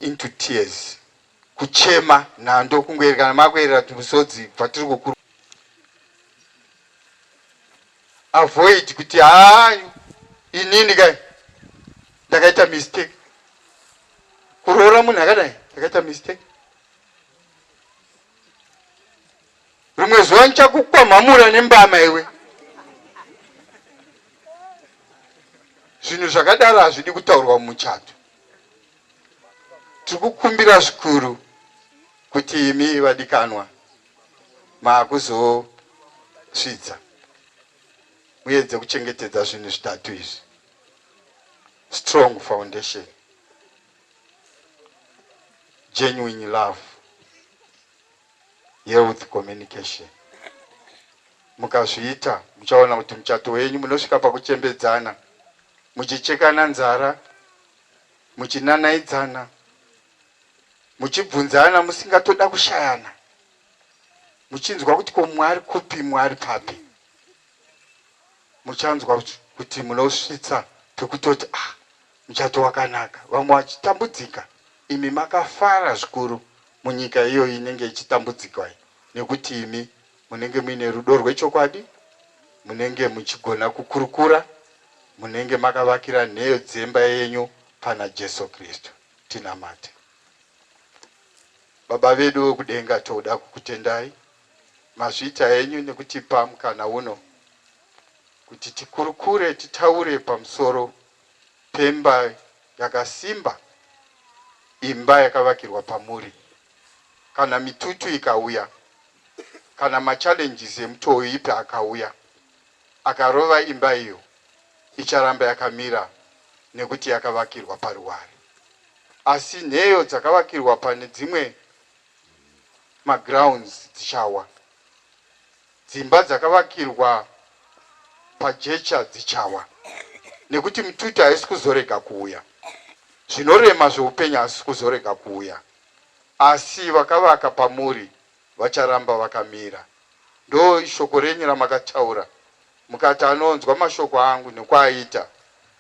into tears kuchema nhando kungoerekana makuerera tumusodzi bvatiri kukuru avoid kuti haa inini kai ndakaita mistake kuroora munhu akadai ndakaita mistake rimwe zuva ndichakukwamhamura nembama iwe zvinhu zvakadaro hazvidi kutaurwa mumuchato Tikukumbira zvikuru kuti imi vadikanwa maakuzosvidza muedze kuchengetedza zvinhu zvitatu izvi. Strong foundation, genuine love, health communication. Mukazviita muchaona kuti muchato wenyu munosvika pakuchembedzana muchichekana nzara. muchinanaidzana muchibvunzana musingatoda kushayana muchinzwa kuti ko mwari kupi mwari papi muchanzwa kuti munosvitsa pekutoti ah muchato wakanaka vamwe vachitambudzika imi makafara zvikuru munyika iyoyi inenge ichitambudzikwa nekuti imi Munenge muine rudo rwechokwadi, munenge muchigona kukurukura, munenge makavakira nheyo dzemba yenyu pana Jesu Kristu. Tinamate. Baba vedu vekudenga, toda kukutendai mazvita enyu nekutipa mukana uno kuti tikurukure, titaure pamusoro pemba yakasimba, imba yakavakirwa pamuri. kana mitutu ikauya, kana ma challenges emutoo ipi akauya akarova imba iyo icharamba yakamira nekuti yakavakirwa paruware. Asi nheyo dzakavakirwa pane dzimwe ma grounds dzichawa, dzimba dzakavakirwa pajecha dzichawa nekuti mitutu haisi kuzorega kuuya, zvinorema zveupenyu hazvisi kuzorega kuuya. asi vakavaka pamuri vacharamba vakamira ndo shoko renyu ramakataura mukati anonzwa mashoko angu nekwaaita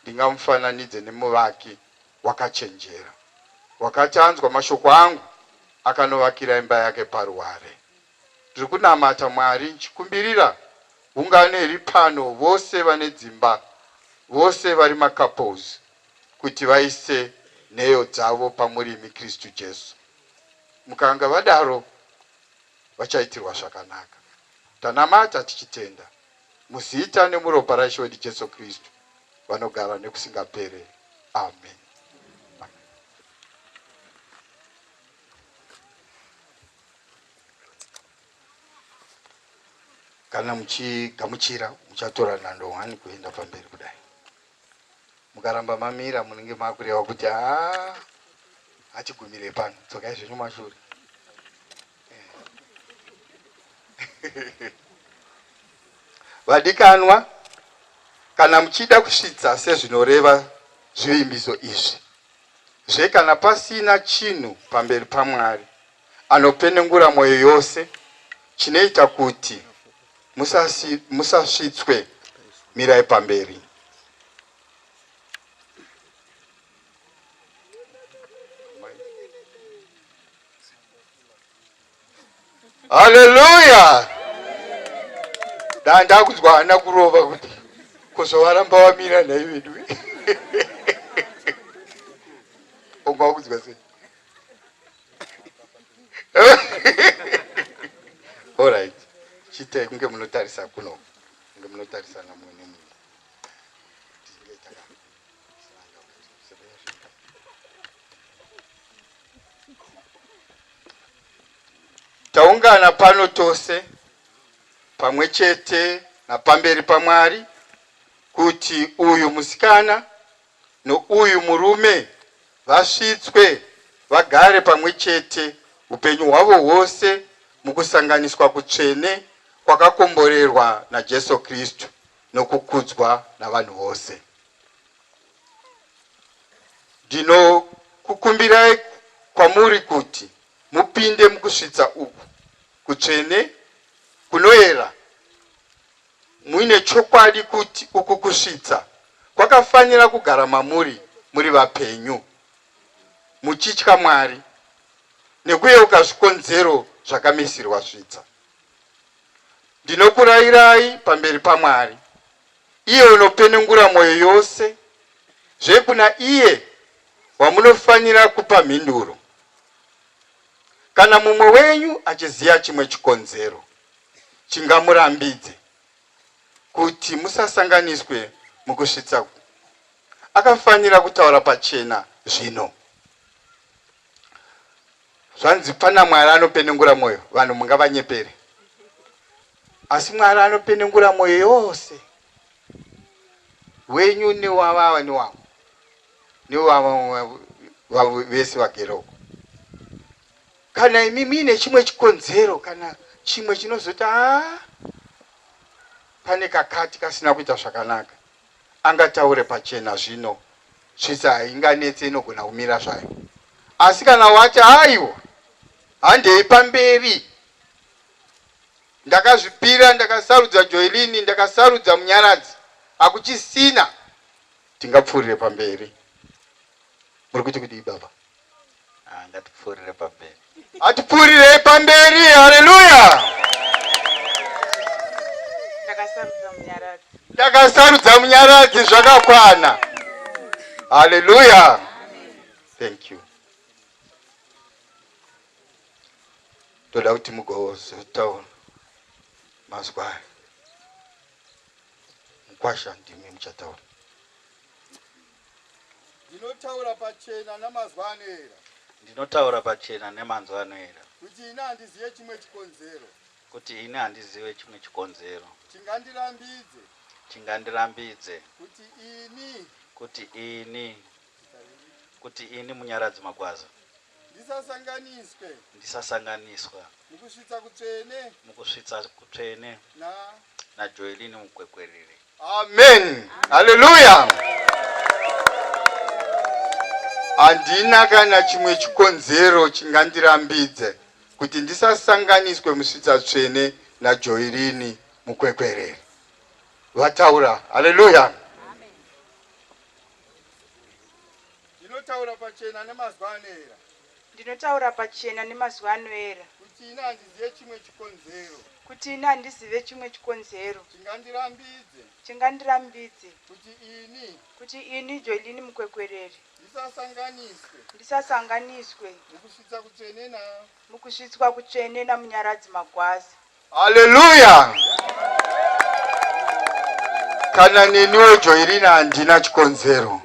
ndingamufananidze nemuvaki wakachenjera wakati anzwa mashoko angu akanovakira imba yake paruware ndiri kunamata Mwari nchikumbirira ungano iri pano vose vane dzimba vose vari macouples kuti vaise nheyo dzavo pamurimi Kristu Jesu. Mukanga vadaro vachaitirwa zvakanaka. Tanamata tichitenda muzita nemuropa raIshe wedu Jesu Kristu vanogara nekusingapere. Amen. Kana muchigamuchira muchatora nhando hwani kuenda pamberi kudai. mukaramba mamira munenge makureva kuti haa hachigumire pano dzokai zvenyu mashure vadikanwa kana muchida kusvitsa sezvinoreva zvivimbiso izvi zve kana pasina chinhu pamberi pamwari anopenengura mwoyo yose chinoita kuti musasvitswe mirai pamberi. Haleluya! Dai ndakunzwa hana kurova kuti kuzovaramba wamira nhai vedu ungakunzwa sei? Alright. Chite kunge munotarisa kuno. Kunge munotarisa na mwe ne mwe. Taungana pano tose pamwe chete napamberi pamwari kuti uyu musikana nouyu murume vasvitswe vagare pamwe chete upenyu hwavo hwose mukusanganiswa kutsvene kwakakomborerwa naJesu Kristu nokukudzwa navanhu vose. Ndinokukumbirai kwamuri kuti mupinde mukusvitsa uku kutsvene kunoera Muine chokwadi kuti uku kusvitsa kwakafanira kugara mamuri muri vapenyu, muchitya Mwari nekuyeuka zvikonzero zvakamisirwa svitsa. Ndinokurayirai pamberi paMwari, iye unopenengura mwoyo yose, zve kuna iye wamunofanira kupa mhinduro. Kana mumwe wenyu achiziva chimwe chikonzero, chingamurambidze kuti musasanganiswe mukusvitsa akafanira kutaura pachena zvino zvanzi pana mwari anopenengura mwoyo vanhu mungavanyepere asi mwari anopenengura mwoyo yose wenyu newavava newavo newavava vese vageroko Kana imi muine chimwe chikonzero kana chimwe chinozoti aa pane kakati kasina kuita zvakanaka, angataure pachena zvino tsvitsa hainganetse inogona kumira zvayo. Asi kana wati aiwa handei pamberi ndakazvipira ndakasarudza Joelini ndakasarudza Munyaradzi hakuchisina tingapfuurire pamberi. Muri kuti kudii baba? Ah, ngatipfuurire pamberi. Atipfuurirei pamberi. Haleluya. Ndakasarudza munyaradzi. Ndakasarudza munyaradzi zvakakwana. Haleluya. Thank you. Toda kuti mugozotaura mazwi aya. Mukwasha ndimi muchataura. Ndinotaura pachena namazwi anoera. Ndinotaura pachena nemanzwi anoera. Kuti ini handizive chimwe chikonzero. Kuti ini handizive chimwe chikonzero. Chingandirambidze. Chingandirambidze. Kuti ini. Kuti ini. Kuti ini Munyaradzi Magwaza. Ndisasanganiswe. Ndisasanganiswa. Mukusvitsa kutsvene. Mukusvitsa kutsvene. Na. NaJoelini Mukwekweriri. Amen. Hallelujah. Handina kana chimwe chikonzero chingandirambidze kuti ndisasanganiswe musvitsa tsvene naJoirini mukwekwereri. Vataura. Hallelujah. Ndinotaura pachena nemazuva anoera. Ndinotaura pachena nemazuva anoera. Kuti ini handizive chimwe chikonzero. Kuti ini handizive chimwe chikonzero. Chingandirambidze. Chingandirambidze. Kuti ini. Kuti ini Joeline Mukwekwereri. Ndisasanganiswe. Ndisasanganiswe. Mukusvitsa kutsvene na. Mukusvitswa kutsvene naMunyaradzi Magwaza. Hallelujah. Kana neniwo Joirina handina chikonzero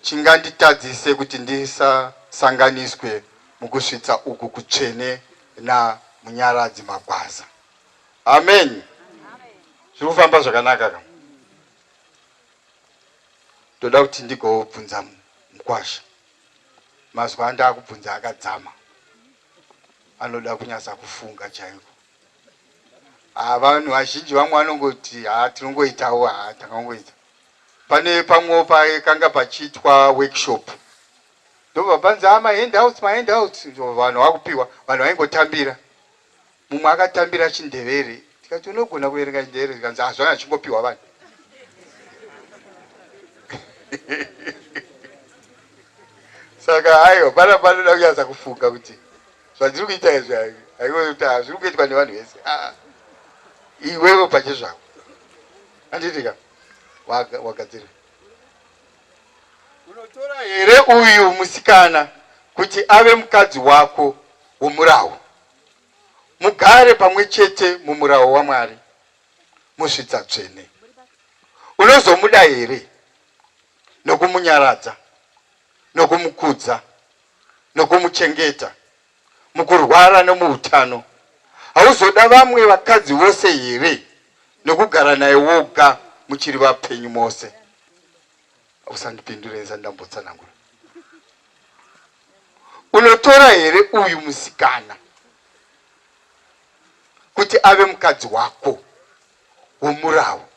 chinganditadzise kuti ndisasanganiswe mukusvitsa uku kutsvene naMunyaradzi Magwaza. Amen. Zviri kufamba zvakanaka ka? Ndoda kuti ndigobvunza mukwasha. Mazwi andakubvunza akadzama. anoda kunyatsa kufunga chaiko ah, vanhu vazhinji vamwe vanongoti ha ah, tinongoitawo ha ah, takangoita pane pamwewo pakanga pachiitwa workshop ndobva panzi ah, mahandouts mahandouts vanhu vakupiwa vanhu vaingotambira Mumwe akatambira chindevere tikati unogona kuverenga chindevere tikanzi ah zvanga zvichingopiwa vanhu. Saka haiwa pana panoda kunyatsa kufunga kuti zvandiri kuita izvi haiwa kuti ah zviri kuitwa nevanhu vese ah iwewe pachezvako anditika wagadzira unotora here uyu musikana kuti ave mukadzi wako womurawo mugare pamwe chete mumurawo waMwari musvitsa tsvene. Unozomuda here nokumunyaradza, nokumukudza, nokumuchengeta mukurwara nomuutano? Hauzoda vamwe vakadzi vose here nokugara naye woga muchiri vapenyu mose? Usandipindure ndisati ndambotsanangura. Unotora here uyu musikana kuti ave mukadzi wako womurawo?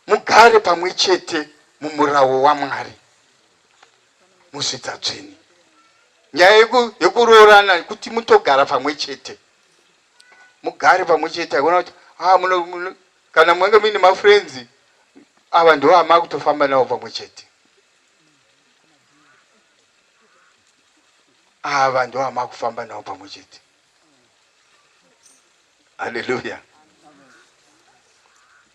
Mugare pamwe chete mumurawo waMwari musvitsa tsvene. Nyaya yekuroorana kuti mutogara pamwe chete, mugare pamwe chete, haikona kuti ah, Kana munge muine mafriends ava ndivo amakutofamba navo pamwe chete. Ava ndivo amakufamba navo pamwe chete. Hallelujah.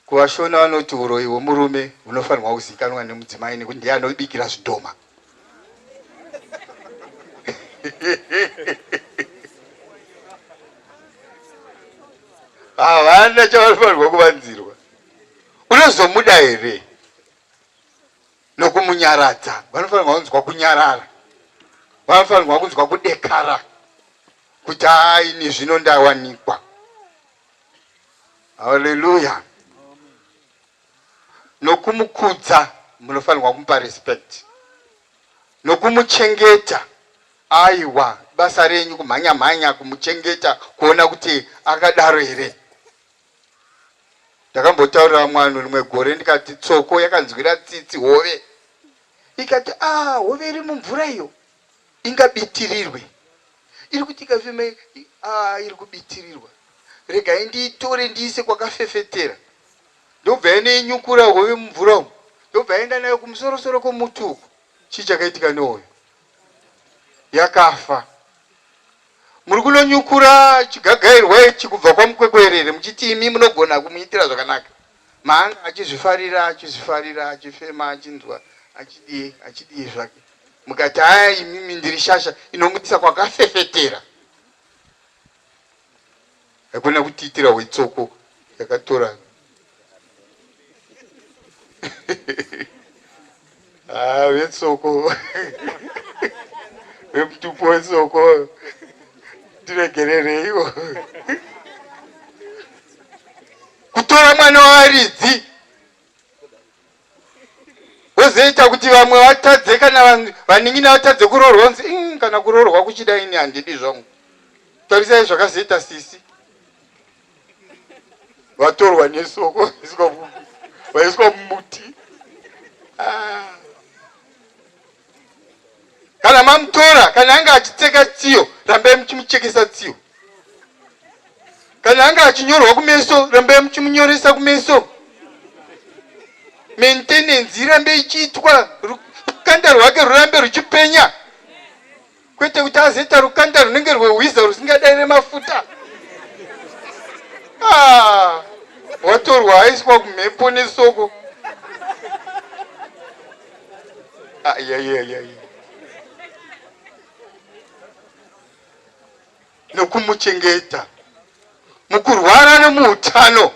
KuvaShona vanoti uroyi hwemurume hunofanirwa kuzivikanwa nemudzimai nekuti ndiye anobikira zvidhoma. havana chavanofanirwa kuvanzirwa unozomuda here nokumunyaradza vanofanirwa kunzwa kunyarara vanofanirwa kunzwa kudekara kuti aini zvino ndawanikwa haleluya nokumukudza munofanirwa kumupa respect nokumuchengeta aiwa basa renyu kumhanya mhanya kumuchengeta kuona kuti akadaro here ndakambotaurira mwana rimwe gore ndikati tsoko yakanzwira tsitsi hove ikati ah hove iri mumvura iyo ingabitirirwe iri kuti ikafeme ah, iri kubitirirwa regai ndiitore ndiise kwakafefetera ndobva yanoinyukura hove mumvura umu ndobva yaenda nayo kumusorosoro kwomuti uku chii chakaitika nehoyo yakafa muri kunonyukura chigagairwa ichi kubva kwamukwekwerere muchiti imi munogona kumuitira zvakanaka maanga achizvifarira achizvifarira achifema achinzwa achidii achidii zvake mukati aya imimi ndiri shasha inomuitisa kwakafefetera Haikona kutiitira hwetsoko yakatora ah, vetsoko vemutupo wetsoko tiregerereiwo kutora mwana waaridzi wozoita kuti vamwe vatadze kana vanhu vanin'ina vatadze kuroorwa unzi mm, kana kuroorwa kuchida ini handidi zvangu tarisai zvakazoita sisi vatorwa nesoko vaiswa mumuti ah. Kana mamutora, kana anga achitseka tsiyo, rambai muchimuchekesa tsiyo. Kana anga achinyorwa kumeso, rambai muchimunyoresa kumeso. Maintenance irambe ichiitwa, rukanda rwake rurambe ruchipenya. kwete kuti azoita rukanda runenge rwehwiza rusingadaire mafuta ah, watorwa aiswa kumhepo nesoko ah, yeah, yeah, yeah, yeah. nokumuchengeta mukurwara nemuutano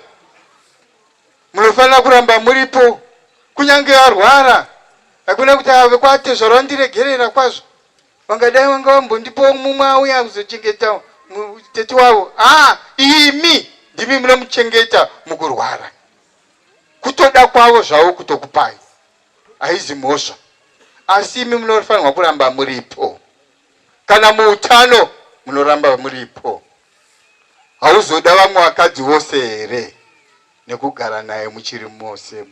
Munofanira kuramba muripo kunyange arwara. Hakuna kuti ava vekwatezvara vandiregerera kwazvo. Vangadai vanga vambondipawo mumwe auya kuzochengeta tete wavo. Haa, imi ndimi munomuchengeta mukurwara. Kutoda kwavo zvavo kutokupai. Haizi mhosva. Asi imi munofanirwa kuramba muripo. Kana muutano munoramba muripo. Hauzoda vamwe vakadzi vose here nekugara naye muchiri mose?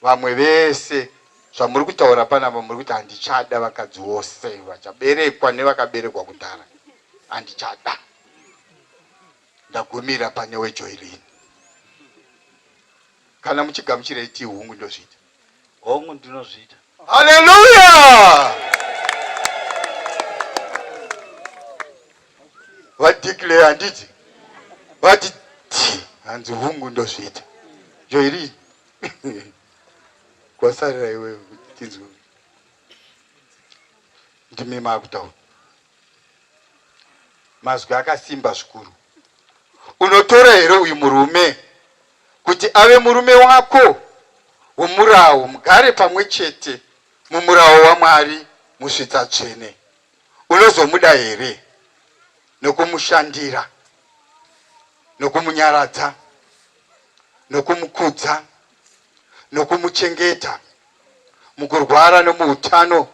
Vamwe vese zvamuri kutaura panapa muri kuti handichada vakadzi vose vachaberekwa nevakaberekwa kudhara, handichada. Ndagumira pane weJoyline. Kana muchigamuchira itii hungu ndozviita. Hongu ndinozviita. Haleluya! Vadeclare handiti vati ti hanzi hungu ndozviita joiri kwasarira iwe tinzwe ndimi maakutaura mazwi akasimba zvikuru unotora here uyu murume kuti ave murume wako womurawo, mugare pamwe chete mumurawo waMwari musvitsa tsvene, unozomuda here nokumushandira, nokumunyaradza, nokumukudza, nokumuchengeta mukurwara nomuutano?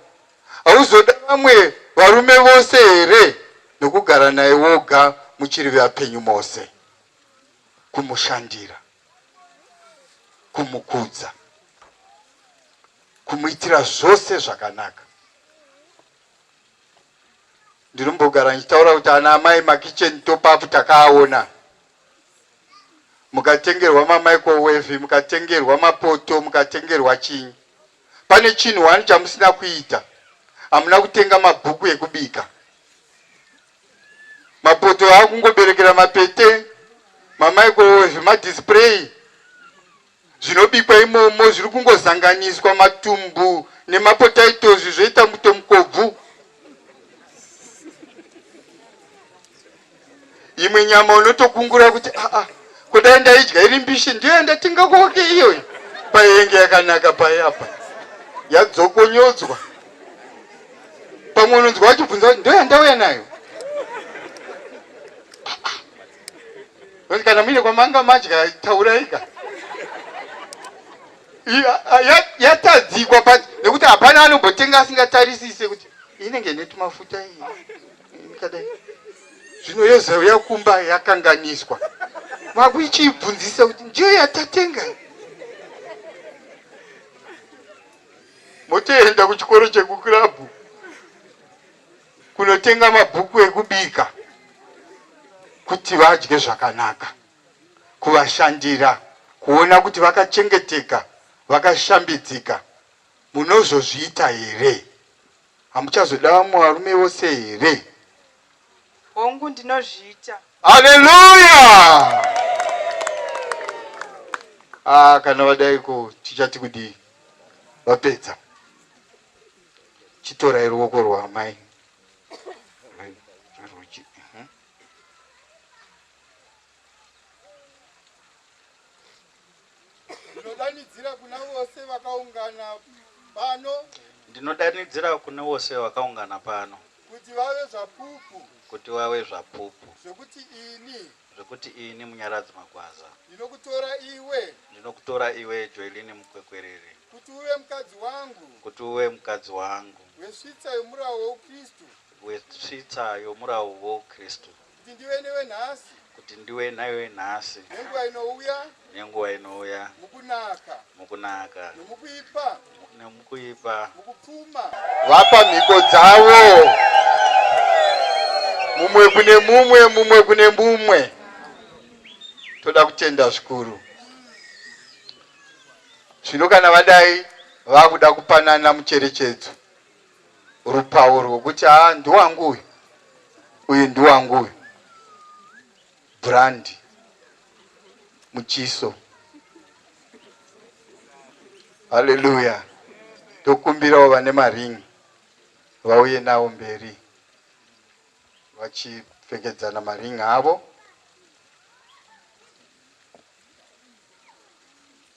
Hauzoda vamwe varume vose here nokugara naye woga muchiri vapenyu mose? kumushandira, kumukudza, kumuitira zvose zvakanaka. Ndinombogara ndichitaura kuti ana amai makicheni topapu takaaona mukatengerwa mamicrowave mukatengerwa mapoto mukatengerwa chinyi pane chinhu wani chamusina kuita hamuna kutenga mabhuku ekubika mapoto akungoberekera mapete mamaikowo zvemadisplay zvinobikwa imomo zviri kungozanganiswa matumbu nemapotaitos zvoita muto mukobvu imwe nyama unotokungura kuti aa ah, ah, kudai ndaidya iri mbishi ndiyo yandatinga koke iyoyo payenge yakanaka payapa yadzokonyodzwa pamwe unonzwa wachibvunza kuti ndoyandauya nayo kana muine kwamanga madya tauraika yatadzikwa pati nekuti hapana anombotenga asingatarisise kuti inenge netumafuta iyi kadai zvino yozouya kumba yakanganiswa makuichiibvunzisa kuti ndiyo yatatenga motoenda kuchikoro chekukirabhu kunotenga mabhuku ekubika kuti vadye zvakanaka kuvashandira kuona kuti vakachengeteka vakashambidzika munozozviita here Hamuchazoda vamwe varume vose here? Hongu, ndinozviita. Haleluya! Ah, kana vadaiko tichati kudii? Vapedza. Chitorai ruoko rwaamai. Ndinodanidzira kuna vose vakaungana pano. Ndinodanidzira kune vose vakaungana pano. Kuti vave zvapupu. Kuti vave zvapupu. Zvekuti ini. Zvekuti ini Munyaradzi Magwaza. Ndinokutora iwe. Ndinokutora iwe Joeline Mukwekwerere. Kuti uve mukadzi wangu. Kuti uve mukadzi wangu. Wesvitsa yomurawo wouKristu. Wesvitsa yomurawo wouKristu. Kuti ndive newe nhasi. Kuti ndiwe newe nhasi. Nenguva inouya. Nenguva inouya. Mukunaka. Mukunaka. Nomukuipa. Nomukuipa. Mukupfuma. Vapa mhiko dzavo. Mumwe kune mumwe, mumwe kune mumwe. Toda kutenda zvikuru. Zvino kana vadai vakuda kupanana mucherechedzo. rupawo rwekuti haa ndiwangu uyu uyu ndiwangu uyu brand muchiso haleluya tokumbirawo vane maringi vauye nawo mberi vachipfekedzana maringi avo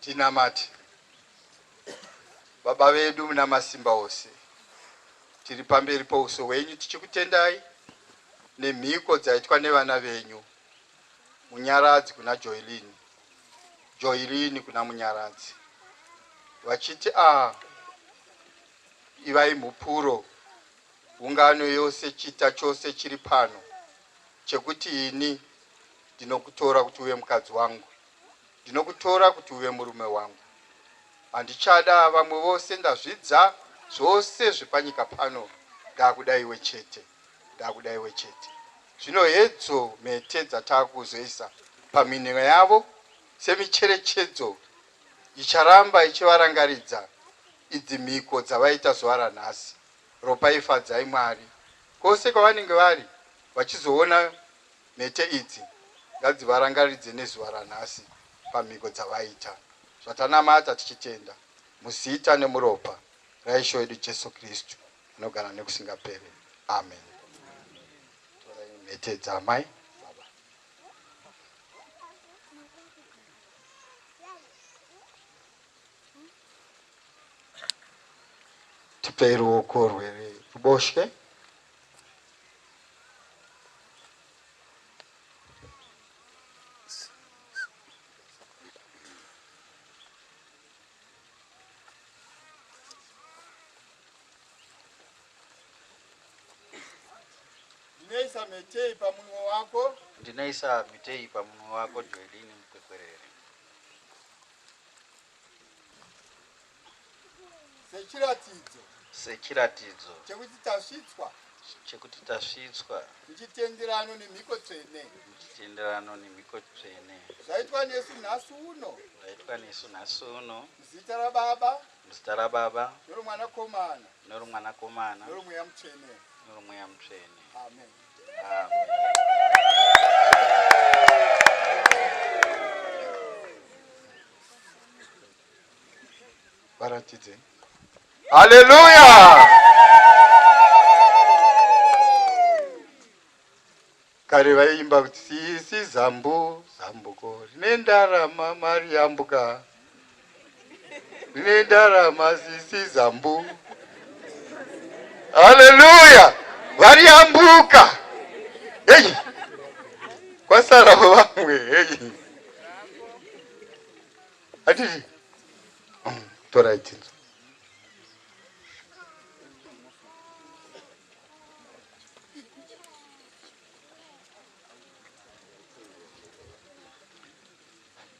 Tinamate Baba vedu muna masimba ose, tiri pamberi pouso hwenyu tichikutendai nemhiko dzaitwa nevana venyu Munyaradzi kuna Joilini, Joilini kuna Munyaradzi, vachiti a ah, ivai mhupuro Ungano yose, chita chose chiri pano chekuti ini ndinokutora kuti uve mukadzi wangu. Ndinokutora kuti uve murume wangu. Handichada vamwe vose. Ndazvidza zvose zvepanyika pano. Ndakuda iwe chete. Ndakuda iwe chete. Zvino hedzo mhete dzatakuzoisa pamhinho yavo semicherechedzo icharamba ichivarangaridza idzi mhiko dzavaita zuva ranhasi. Ropai Fadzai Mwari kose kwavanenge vari vachizoona mhete idzi ngadzivarangaridze nezuva ranhasi pamhiko dzavaita zvatanamata tichitenda muzita nemuropa raIshe wedu Jesu Kristu anogara nekusingapere Amen Torai mhete dzaamai tipei ruoko rweruboshwe ndinoisa mhetei pamunwe wako ndinoisa mhetei pamunwe wako joelini mukwekwerere sechiratidzo sechiratidzo chekuti tasvitswa chekuti tasvitswa muchitenderano nemhiko tsvene muchitenderano nemhiko tsvene zvaitwa nesu nhasi uno zvaitwa nesu nhasi uno muzita rababa muzita rababa noromwanakomana noromwanakomana noromweya mutsvene noromweya mutsvene amen varatidze haleluya kare vaiimba kuti sisi zambu zambuko rine ndarama mari yambuka Ndine ndarama sisi zambu. Haleluya! Variyambuka. Hey. Kwasara vamwe. Hey. Atiti. Mm, tora itinzo.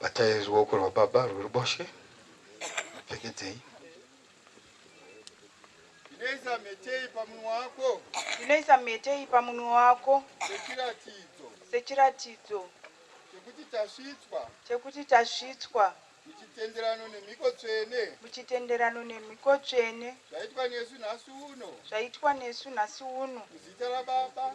Batai ruoko rwababa rweruboshwe, mupfekedzei. Ndinoisa mhete iyi pamunwe wako. Ndinoisa mhete iyi pamunwe wako. Sechiratidzo. Sechiratidzo. Chekuti tasvitswa. Chekuti tasvitswa. Muchitenderano nemhiko tsvene. Muchitenderano nemhiko tsvene. Zvaitwa nesu nhasi uno. Zvaitwa nesu nhasi uno. Muzita raBaba.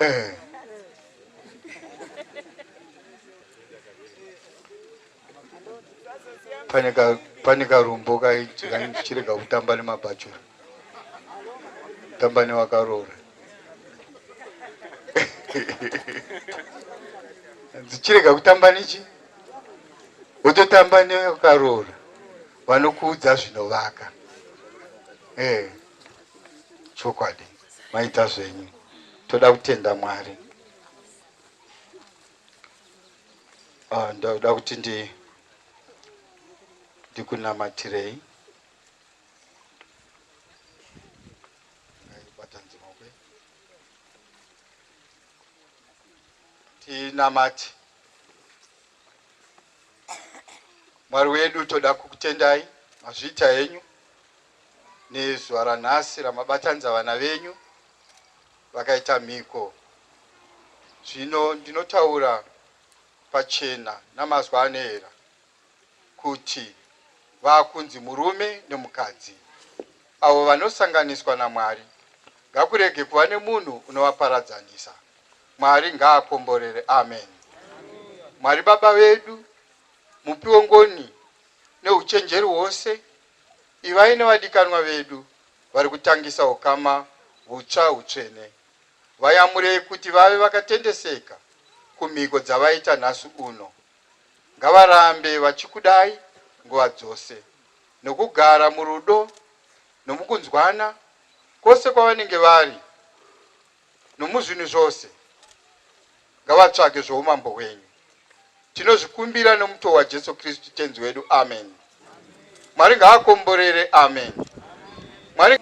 Eh. Pane ka pane karumbo kai chirega kutamba nemabhachura. Tamba newakaroora. Dzichirega kutamba nechi wototamba newakaroora vanokuudza zvinovaka. Eh. Chokwadi. maita zvenyu toda kutenda mwari uh, ndoda kuti ndi ndikunamatirei tinamati mwari wedu toda kukutendai mazviita henyu nezuva ranhasi ramabatanidza vana venyu vakaita mhiko. Zvino ndinotaura pachena namazwi anoera kuti vakunzi murume nemukadzi avo vanosanganiswa naMwari. Ngakurege kuva nemunhu unovaparadzanisa. Mwari ngaakomborere. Amen. Mwari Baba vedu, Mupi wengoni neuchenjeri hwose, Ivai nevadikanwa vedu vari kutangisa ukama hutsva hutsvene. Vayamurei kuti vave vakatendeseka kumhiko dzavaita nhasi uno. Ngavarambe vachikudai nguva dzose nokugara murudo nomukunzwana kwose kwavanenge vari. nomuzvinhu zvose ngavatsvage zvoumambo hwenyu. Tinozvikumbira nomuto waJesu Kristu Tenzi wedu. Ameni. Mwari ngaakomborere. Ameni. Mwari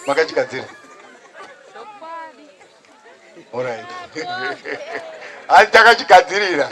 makachigadzira. All right. Hanzi takachigadzirira.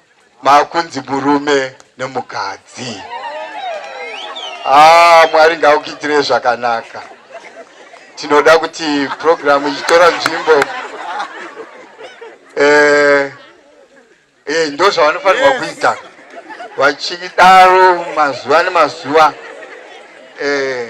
makunzi murume nemukadzi ah, mwari ngaukuitirei zvakanaka tinoda kuti purogiramu ichitora nzvimbo eh, eh, ndo zvavanofanirwa kuita vachidaro mazuva nemazuva eh,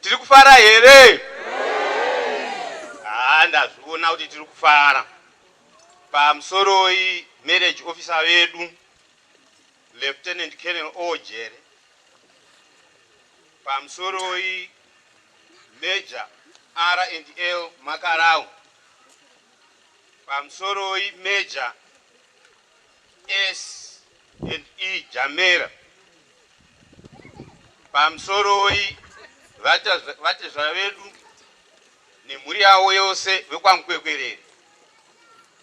Tiri kufara here? Haa ndazviona kuti tiri kufara. Pamusoroi marriage officer vedu Lieutenant Colonel Ojere. Pamusoroi Major R&L Makarau. Pamusoroi Major S and E Jamera pamusoroi vatezvara vedu nemhuri yavo yose vekwaMukwekwerere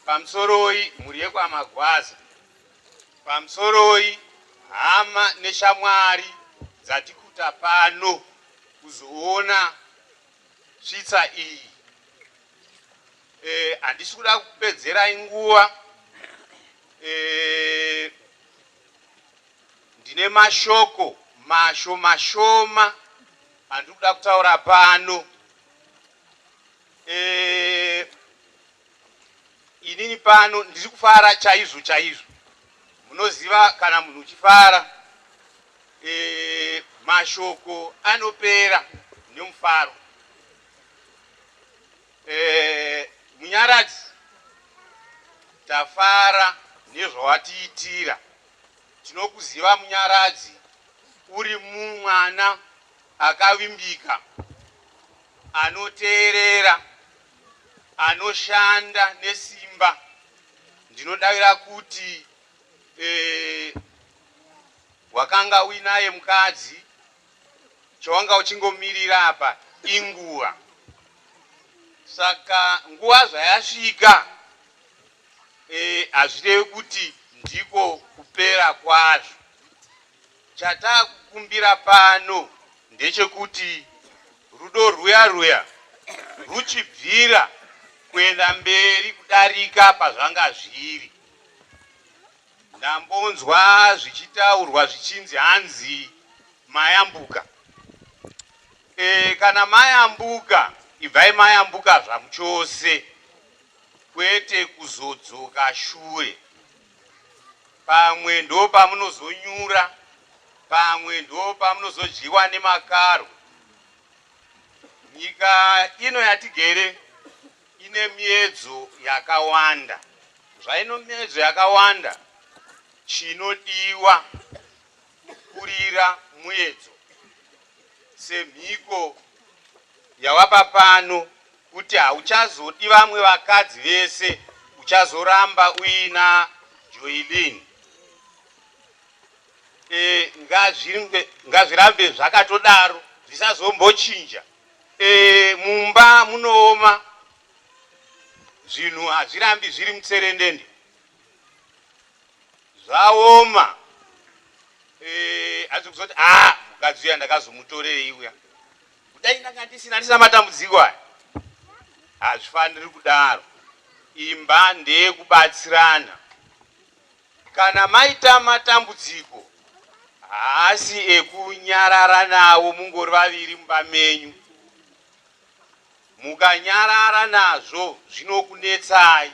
pamusoroi mhuri yekwaMagwaza pamusoroi hama neshamwari dzatikuta pano kuzoona svitsa iyi. Eh handisi kuda kukupedzerai nguva eh, ndine mashoko masho mashoma andiri kuda kutaura pano eh, inini pano ndiri kufara chaizvo chaizvo munoziva kana munhu uchifara eh, mashoko anopera nemufaro Eh, Munyaradzi, tafara nezvawatiitira. Tinokuziva Munyaradzi, uri mwana akavimbika, anoteerera, anoshanda nesimba. Ndinodavira kuti eh, wakanga uinaye mukadzi Chawanga uchingomirira apa inguva saka nguva zvayasvika e, hazvirevi kuti ndiko kupera kwazvo. Chatakukumbira pano ndechekuti rudo rwuya rwuya rwuchibvira kuenda mberi kudarika pazvanga zviri. Ndambonzwa zvichitaurwa zvichinzi hanzi mayambuka eeh kana mayambuka ibvai mayambuka zvamuchose kwete kuzodzoka shure pamwe ndopamunozonyura pamwe ndopamunozodyiwa nemakaro nyika ino yatigere Ine miedzo yakawanda. Zvaino miedzo yakawanda, chinodiwa kukurira muedzo semhiko yawapa pano kuti hauchazodi vamwe vakadzi vese, uchazoramba uina Joylene. E, ngazvirambe zvakatodaro, zvisazombochinja. Eh mumba munooma zvinhu hazvirambi zviri mutserendende zvaoma eh, hazvi kuzoti a ah, mukadzi uya ndakazomutorei uya kudai ndanga ndisina ndisina matambudziko aya hazvifaniri kudaro imba ndeyekubatsirana Kana maita matambudziko haasi ekunyarara nawo mungori vaviri mumba menyu. Mukanyarara nazvo zvinokunetsai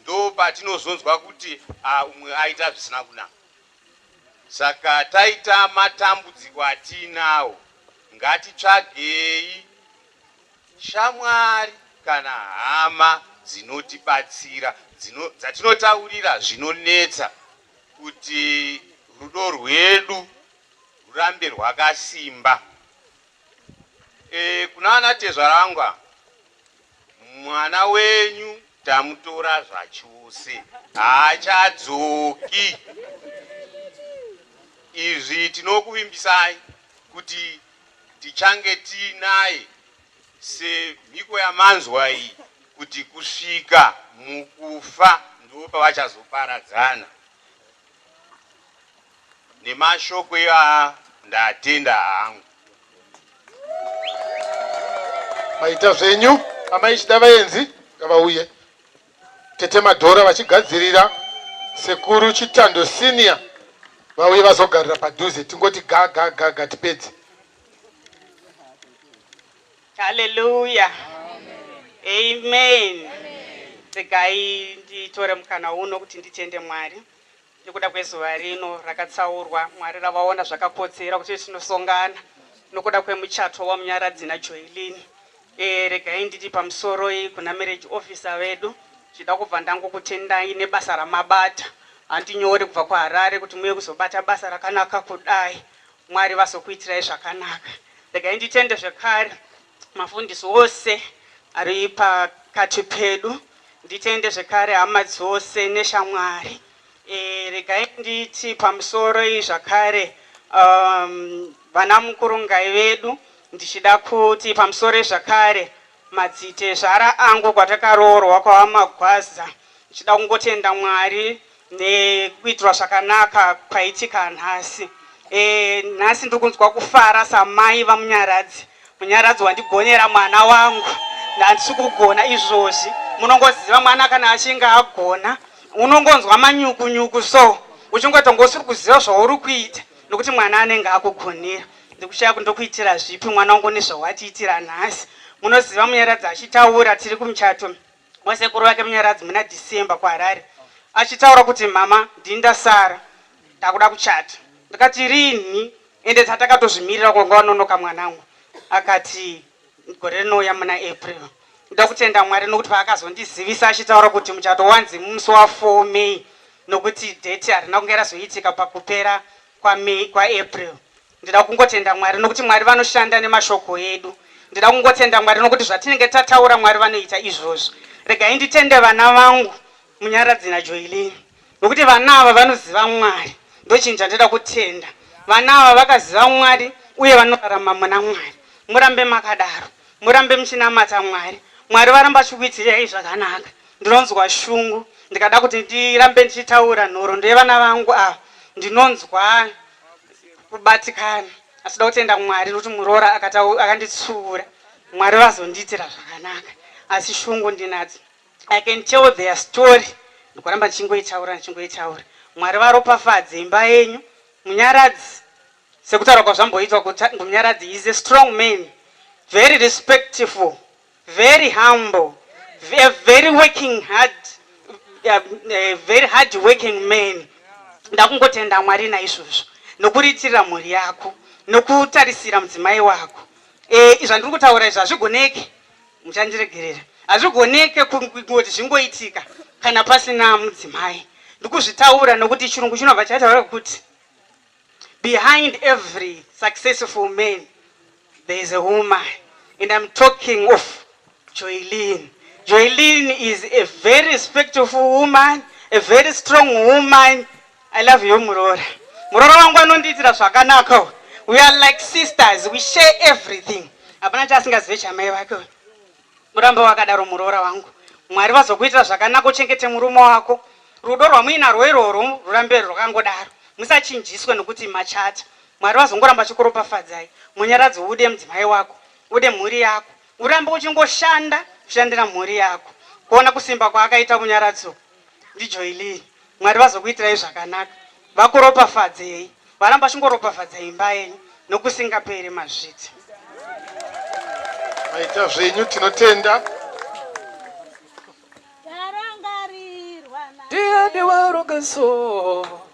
ndopatinozonzwa kuti ah umwe aita zvisina kunaka. Saka taita matambudziko atiinawo ngatitsvagei Shamwari kana hama dzinotibatsira dzino, dzatinotaurira zvinonetsa kuti rudo rwedu rwurambe rwakasimba. E, kuna ana tezvara vangu ava, mwana wenyu tamutora zvachose, haachadzoki. Izvi tinokuvimbisai kuti Tichange tiinaye semhiko yamanzwa iyi kuti kusvika mukufa ndopavachazoparadzana nemashoko iwaya ndatenda hangu. Maita zvenyu amai chida vaenzi ngavauye. Tete Madhora vachigadzirira sekuru Chitando senior vauye vazogarira padhuze tingoti ga ga ga ga tipedze. Hallelujah. Amen. Regai nditore mukana uno kuti nditende Mwari. Nekuda kwezuva rino rakatsaurwa, Mwari ravaona zvakakodzera kuti tinosongana nokuda kwemuchato waMunyaradzi naJoeline. Ee, regai nditi pamusoroi kuna marriage officer vedu, ndichida kubva ndangokutendai nebasa ramabata. Handinyori kubva kuHarare kuti muuye kuzobata basa rakanaka kudai. Mwari vazokuitirai zvakanaka. Regai nditende zvekare mafundisi ose ari pakati pedu. Nditende zvekare hama dzose neshamwari. Eh, regai nditi pamusoro iyi zvakare um, vana mukurungai vedu ndichida kuti pamusoro zvakare madzitezvara angu kwatakaroorwa kwavamagwaza ndichida kungotenda mwari Ndekuitirwa zvakanaka kwaitika nhasi. E, nhasi ndiri kunzwa kufara samai vamunyaradzi. Munyaradzi wandigonera mwana wangu ndandisi kugona izvozvi. Munongoziva mwana kana achinge agona unongonzwa manyuku nyuku so uchingotonga usiri kuziva zvauri kuita nokuti mwana anenge akugonera ndikushaya kundokuitira zvipi mwana wangu nezvawatiitira nhasi munoziva munyaradzi achitaura tiri kumuchato wasekuru vake Munyaradzi muna December kuHarare achitaura kuti mhama ndini ndasara ndakuda kuchata ndikati rinhi ende tatakatozvimirira kwanga wanonoka mwanangu akati gore rinouya muna April ndoda kutenda Mwari nokuti paakazondizivisa achitaura kuti muchato wanzi musi wa 4 May nokuti date harina kunge razoitika pakupera kwaMay kwaApril Ndinoda kungotenda Mwari nokuti Mwari vanoshanda nemashoko edu. Ndinoda kungotenda Mwari nokuti zvatinenge tataura Mwari vanoita izvozvo. Regai nditende vana vangu Munyaradzi naJoeline nokuti vana ava vanoziva Mwari. Ndochinhu chandinoda kutenda. Vana ava vakaziva Mwari uye vanorarama muna Mwari. Murambe makadaro. Murambe muchinamata Mwari. Mwari varamba vachikuitirai zvakanaka. Ndinonzwa shungu ndikada kuti ndirambe ndichitaura nhoroondo yevana vangu ava. Ndinonzwa. kubatikana asi ndoda kutenda Mwari nokuti muroora akanditsiura Mwari vazondiitira zvakanaka asi shungu ndinadzo I can tell their story ndikuramba ndichingoitaura ndichingoitaura Mwari varopafadze imba yenyu Munyaradzi sekutaura kwazvamboitwa kuti Munyaradzi is a strong man very respectful Very humble, a very working hard, a very hard working man. Ndakungotenda Mwari naizvozvo nokuriitirira mhuri yako nokutarisira mudzimai wako. E, zvandiri kutaura izvi hazvigoneke, muchandiregerera, hazvigoneke kungoti zvingoitika kana pasina mudzimai. Ndikuzvitaura nokuti chirungu chinobva chataura kuti Behind every successful man there is a woman and I'm talking of Joylin. Joylin is a very respectful woman, a very strong woman. I love you muroora. Muroora wangu anondiitira zvakanaka. We are like sisters, we share everything. Hapana chaasingazive chamai vake. Urambe wakadaro muroora wangu. Mwari vazokuitira zvakanaka uchengete murume wako. Rudo rwamuinarwo irworwo rurambe rwakangodaro. Musachinjiswe nokuti machata. Mwari vazongoramba vachikuropafadzai. Munyaradzi ude mudzimai wako. Ude mhuri yako. Urambe uchingoshanda kushandira mhuri yako. Kuona kusimba kwaakaita Munyaradzi uku. ndijoinei Mwari vazokuitirai zvakanaka vakuropafadzei varamba vachingoropafadza imba yenyu nokusingaperi mazviti maita zvenyu tinotenda Ndiye ndiwaronga so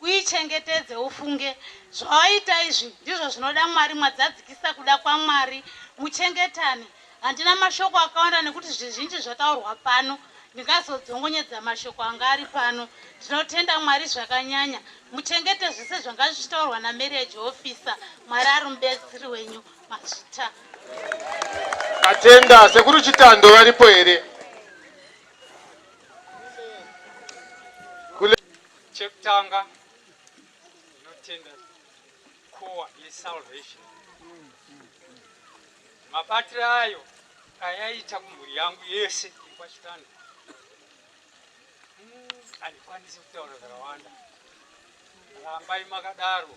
Uichengetedze ufunge, Zvawaita izvi ndizvo zvinoda Mwari Mwadzadzikisa kuda kwaMwari Muchengetane Handina mashoko akawanda nekuti zvizhinji zvataurwa pano Ndingazodzongonyedza mashoko anga ari pano Ndinotenda Mwari zvakanyanya Muchengete zvese zvanga zvichitaurwa naMarriage Officer Mwari ari mubetsri wenyu Mazvita Atenda Sekuru Chitando varipo here? Chekutanga tinotenda kowa yesalvation mabatiro ayo ayaita kumhuri yangu yese yekwachitanda handikwanisi hmm, kutaura zvakawanda rambai makadaro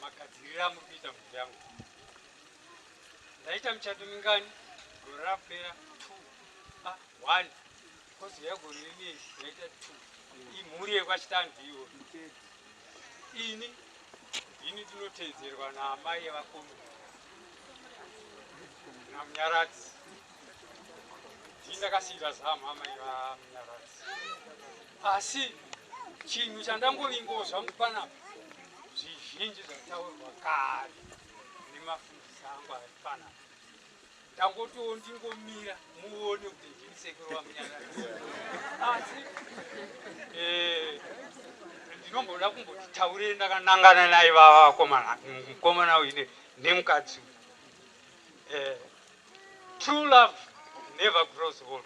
magadzirira muri kuita mhuri yangu ndaita muchato mingani gore rapera two a ah, one Kodzero yako nini yaita two. Imhuri yekwachitanzi ivo. Ini ini ndinoteedzerwa naamai yevakombe namunyaradzi. Ndini ndakasiira zamu amai vamunyaradzi. Asi chinhu chandangovingozwa mupanapa zvizhinji zvataurwa kare nemafundisi angu ari panapa. Ndangotoo ndingomira muone kuti ndini sekuru vaMunyaradzi. Asi eh ndinomboda kumboti taurei ndakanangana naye vava vakomana mukomana uyu ne- nemukadzi uyu. Eh true love never grows old.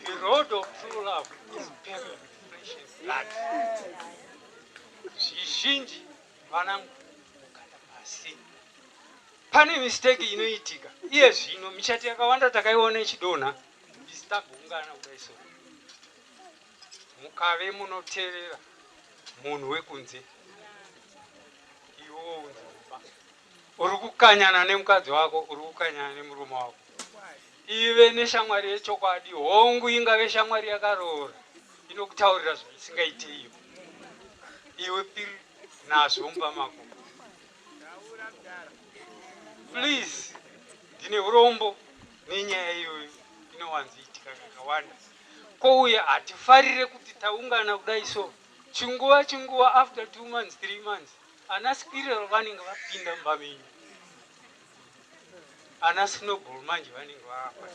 The road of true love is paved with flesh and blood. Zvizhinji Vanangu mukanda pasi. Pane mistake inoitika iye zvino michati yakawanda takaiona ichidonha is tagungana kudai so mukave munoteerera munhu wekunze iwo unzi Uri kukanyana nemukadzi wako, uri kukanyana nemurume wako. Ive neshamwari yechokwadi, hongu, ingave shamwari yakaroora, inokutaurira zvisingaite iwe. Iwe piri nazvo mumba mako. Please, ndine urombo nenyaya iyoyo inowanzoitika kakawanda. Ko uye hatifarire kuti taungana kudai so chinguva chinguva after two months, three months Ana Spirero vanenge vapinda mumba menyu. Ana Snowball manje vanenge vava.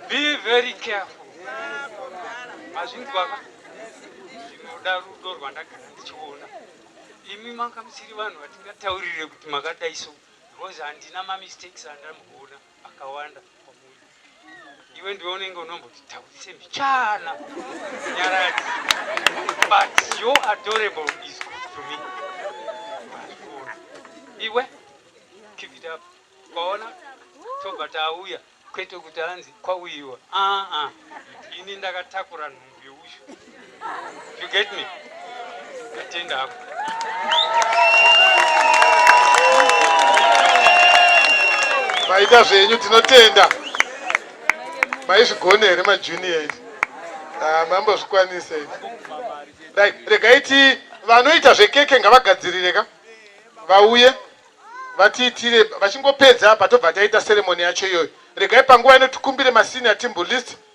Be very careful. Mazvinzwa ka? Zvinoda rudo rwandagara ndichiona. Imi manga musiri vanhu vatingataurire kuti makadai so because handina ma mistakes andamboona. akawanda kwamuri iwe ndiwe unenge unomboti tauise mbichana nyaradzi but your adorable is good to me iwe keep it up kwaona tobva tauya kwete kuti anzi kwauyiwa aa ini ndakatakura nhumbu You get me? Atenda hapo. Maida zvenyu tinotenda. Maizvigone here majunior izvi? Ah, mambo zvikwanise izvi. Right, regai ti vanoita zvekeke ngavagadzirire ka. Vauye vatiitire vachingopedza apa tobva taita ceremony yacho iyoyo. Regai panguva ino tikumbire masenior timbu list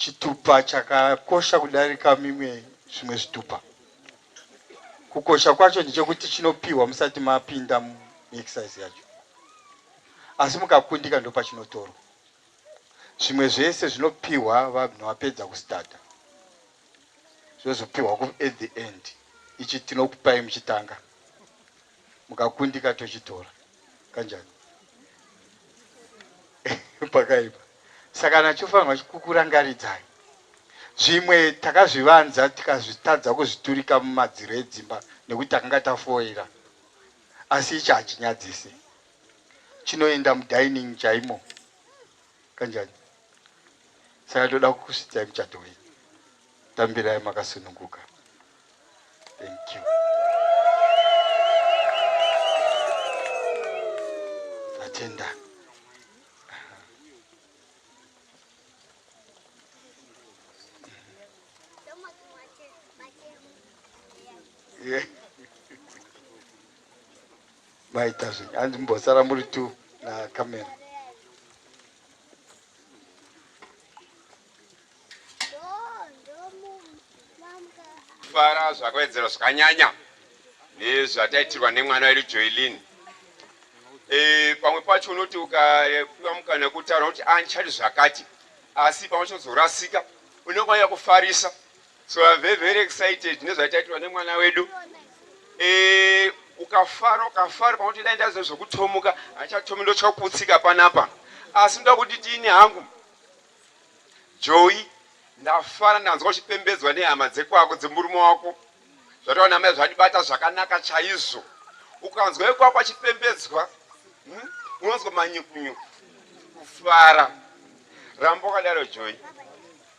Chitupa chakakosha kudarika mimwe zvimwe zvitupa. Kukosha kwacho ndechekuti chinopihwa musati mapinda muexercise yacho, asi mukakundika ndopachinotorwa. Zvimwe zvese zvinopihwa vanhu vapedza kustarta, zvozopihwa at the end. Ichi tinokupai muchitanga. mukakundika tochitora kanjani pakaipa saka nachofanirwa kukurangaridzai zvimwe takazvivanza tikazvitadza kuzviturika mumadziro edzimba nekuti takanga tafoira asi ichi hachinyadzise chinoenda mudining chaimo kanjani saka toda kukusvidzai muchato wenyu Tambirai makasununguka. Thank you. Natenda. Yeah. maita zvenyu hanzi mbosara muri tu nakamera fara zvakawedzera zvakanyanya nezvataitirwa nemwana wedu joelin e, pamwe pacho unoti ukapiwa mukana wekutaura unoti andichadi ah, zvakati asi pamwe chozorasika unokwanira kufarisa so I'm very very excited nezvataitirwa nemwana wedu e, ukafara ukafara pamwe kuti dai ndaziva zvekutomuka andichatomi ndochakutsika panapa asi ndoda kuti tiini hangu Joey. Ndafara ndanzwa uchipembedzwa nehama dzekwako dzemurume wako zvatova namai zvandibata zvakanaka chaizvo. Ukanzwa wekwako achipembedzwa hmm? unonzwa manyukunyuku kufara. Ramba wakadaro Joey.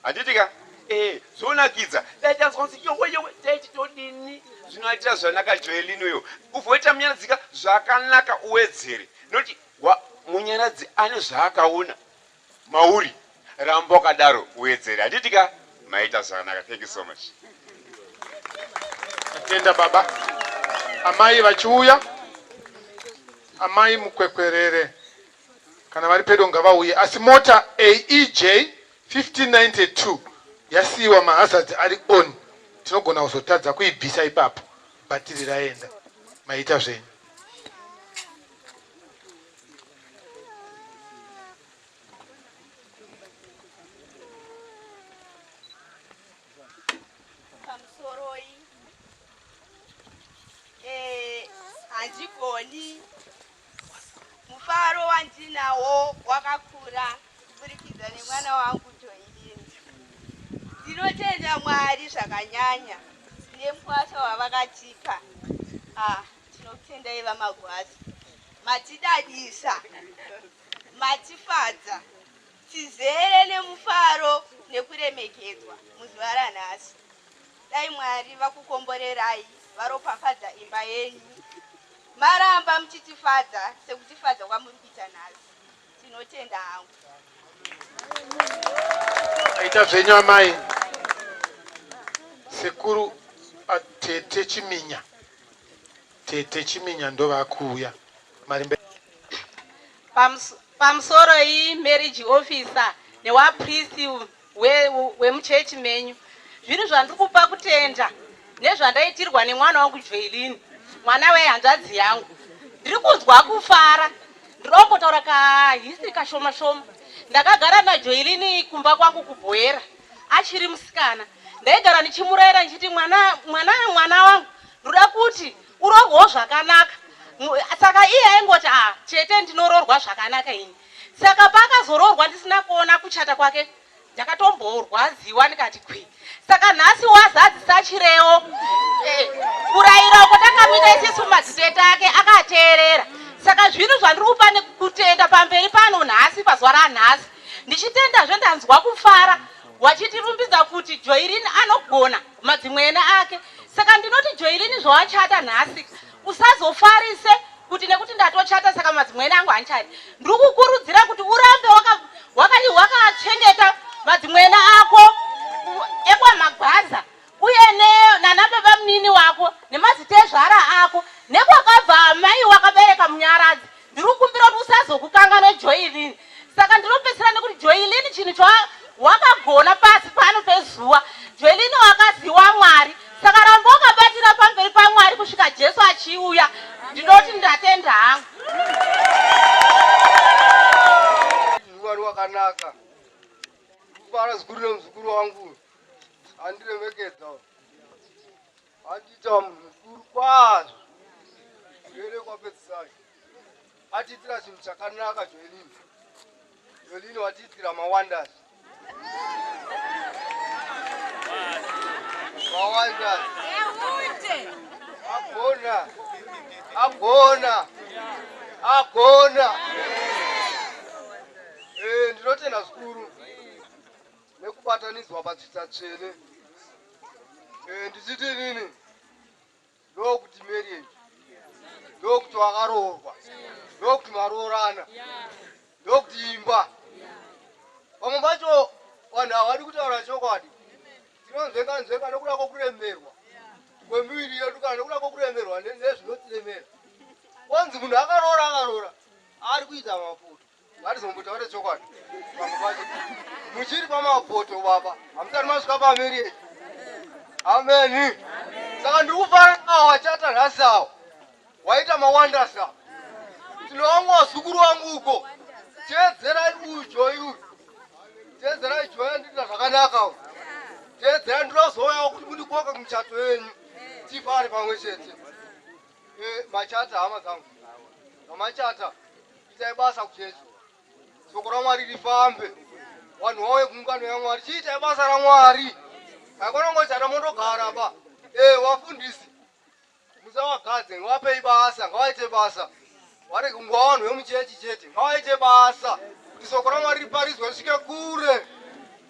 Handiti ka? Eh, zvonakidza. Dai tanzwa kunzi yowe yowe taiti todini? Zvinoatira zvanaka Joelini uyo. Uvoita munyaradzika zvakanaka uwedzere. Noti munyaradzi ane zvaakaona Mauri ramba wakadaro uwedzere handiti ka maita zvakanaka thank you so much atenda baba amai vachiuya amai mukwekwerere kana vari pedo ngavauye asi mota aej 1592 yasiiwa mahazards ari on tinogona kuzotadza kuibvisa ipapo bhatiri raenda maita zvenyu pamusoroi eh, handigoni mufaro wandinawo wakakura kuburikidza nemwana wangu toiini ndinotenda mwari zvakanyanya nemukwasha wavakatipa ah, Tinokutendai vaMagwaza matidadisa matifadza tizere nemufaro nekuremekedzwa muzuva ranhasi dai Mwari vakukomborerai varopafadza imba yenyu maramba muchitifadza sekutifadza kwamuri kuita nhasi Tinotenda hangu. Aita zvenyu amai. Sekuru atete Chiminya. Tete Chiminya ndovakuuya. Marimbe. Pams, pamsoro iyi marriage officer newa priest We, we muchechi menyu zviri zvandiri kupa kutenda nezvandaitirwa nemwana wangu Joelin mwana we hanzvadzi yangu ndiri kunzwa kufara ndinoongotaura ka history kashoma shoma ndakagara na Joelin kumba kwangu kubhoera achiri musikana ndaigara ndichimuraira ndichiti mwana mwana mwana wangu ndoda kuti urorwewo zvakanaka saka iye aingoti ah chete ndinororwa zvakanaka ini Saka paakazoroorwa ndisina kuona kuchata kwake ndakatomborwadziwa ndikati kwi saka nhasi wazadzisa chirewo eh, kurayira uko takamita isisu madzitete ake akateerera saka zvinhu zvandiri kupa nekutenda pamberi pano nhasi pazuva ranhasi ndichitendazve ndanzwa kufara wachitirumbidza kuti joirini anogona madzimwene ake saka ndinoti joirini zvawachata nhasi usazofarise kuti nekuti ndatochata saka madzimwene angu hanchati ndiri kukurudzira kuti urambe wakachengeta madzimwene ako ekwamagwaza uye nanababa munini wako nemazita ezvara ako nekwakabva amai wakabereka munyaradzi Ndiri kukumbira kuti usazokukanganwe Joyilini. Saka ndinopedzisira nekuti Joyilini chinhu chawakagona pasi pano pezuva. Joyilini wakazi waMwari. Saka ramba wakabatira pamberi paMwari kusvika Jesu achiuya. Ndinoti ndatenda hangu. Mwari wakanaka. Ndikufara zikuru nemuzukuru wangu. Andiremekedza. Andiita munhu mukuru kwazvo zvere kwapedzisai atiitira chinhu chakanaka joelin joelin watiitira mawanders mawanders agona agona agona eh, ndinotenda zvikuru nekubatanidzwa padzvita tsvene eh, ndichiti nini ndokuti marriage ndokuti wakaroorwa ndokuti maroorana ndokuti imba vamwe vacho vanhu havadi kutaura chokwadi tinonzvenga nzvenga nokuda kwokuremerwa kwemiviri yedu kana nokuda kwokuremerwa nezvinotiremera kwanzi munhu akaroora akaroora ari kuita mafuta Hatizombutaure chokwadi pamwe pacho muchiri pamapoto baba hamusati masvika pamiri ameni saka ndiri kufara awo wachata nhasi awo waita mawandasa tinowangu wazukuru wangu uko teedzerai uyu joyi uyu teedzerai joyi andiita zvakanaka uyu teedzera ndinozouyawo kuti mundikoka kumuchato yenyu tifare pamwe chete eh, machata hama dzangu mamachata Itai basa kuti soko raMwari rifambe. Vanhu vauye kuungano yaMwari. Chiitai basa raMwari. Haikona ngochata mondogara ba. Eh, wafundisi. Musawagadze, ngawapei basa, ngawaite basa. Wari kungwa vanhu vemuchechi chete. Ngawaite basa. Kuti soko raMwari riparidzwe risvike kure.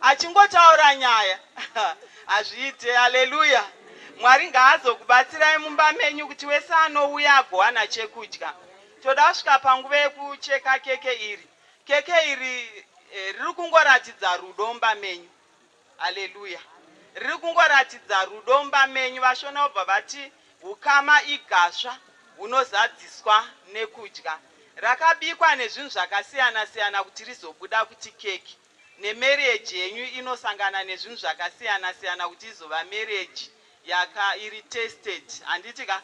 Achingotaura nyaya hazviite. Haleluya. Mwari ngaazokubatsirai mumba menyu kuti wese anouya agowana chekudya. Toda kusvika panguva yekucheka keke iri. Keke iri eh, riri kungoratidza rudo mumba menyu. Haleluya. Riri kungoratidza rudo mumba menyu. Vashona vobva vati ukama igasva hunozadziswa nekudya. Rakabikwa nezvinhu zvakasiyana siyana kuti rizobuda kuti keke. nemarriage yenyu inosangana nezvinhu zvakasiyana siyana kuti izova marriage yaka iri tested handiti ka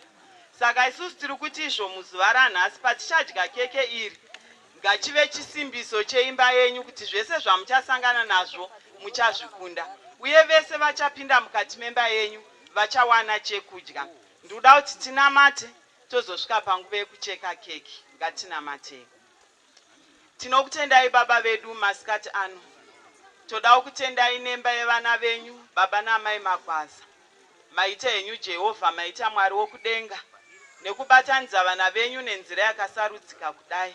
saka isusu tiri kuti izvo muzuva ranhasi patichadya keke iri ngachive chisimbiso cheimba yenyu kuti zvese zvamuchasangana nazvo muchazvikunda uye vese vachapinda mukati memba yenyu vachawana chekudya ndikuda kuti tinamate tozosvika panguva yekucheka keke ngatinamatei Tinokutendai baba vedu masikati ano. Todawo kutendai nemba yevana venyu baba naamai Magwaza. Maita henyu Jehovha maita Mwari wokudenga nekubatanidza vana venyu nenzira yakasarudzika kudai.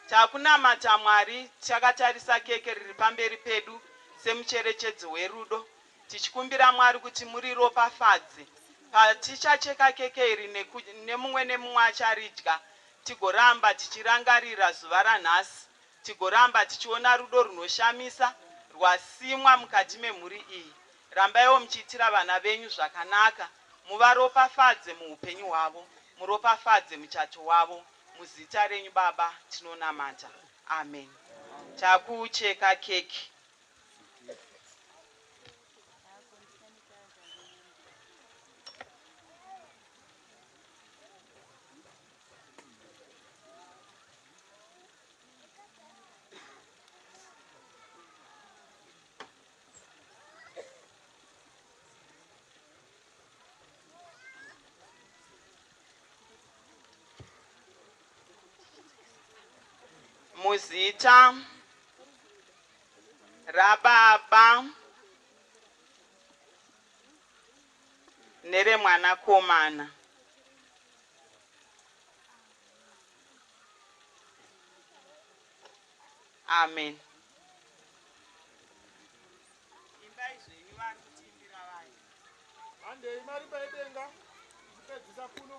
Takunamata Mwari tichakatarisa keke riri pamberi pedu semucherechedzo werudo tichikumbira Mwari kuti muriropafadze. Patichacheka keke iri neku, nemumwe nemumwe acharidya Tigoramba tichirangarira zuva ranhasi, tigoramba tichiona rudo rwunoshamisa rwasimwa mukati memhuri iyi. Rambaiwo muchiitira vana venyu zvakanaka, muvaropafadze muhupenyu hwavo, muropafadze muchato wavo. Muzita renyu Baba tinonamata. Amen. Takucheka keke. muzita rababa neremwanakomana Amen. Imbai zvenyu vari kutiimbira vaya. Handei mari paidenga kupedzisa kuno.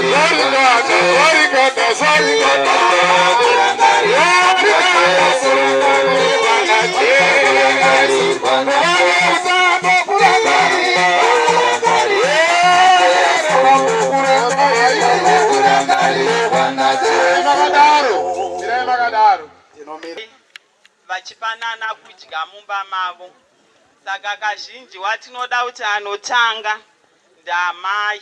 vachipanana kudya mumba mavo saka kazhinji watinoda kuti anotanga ndamai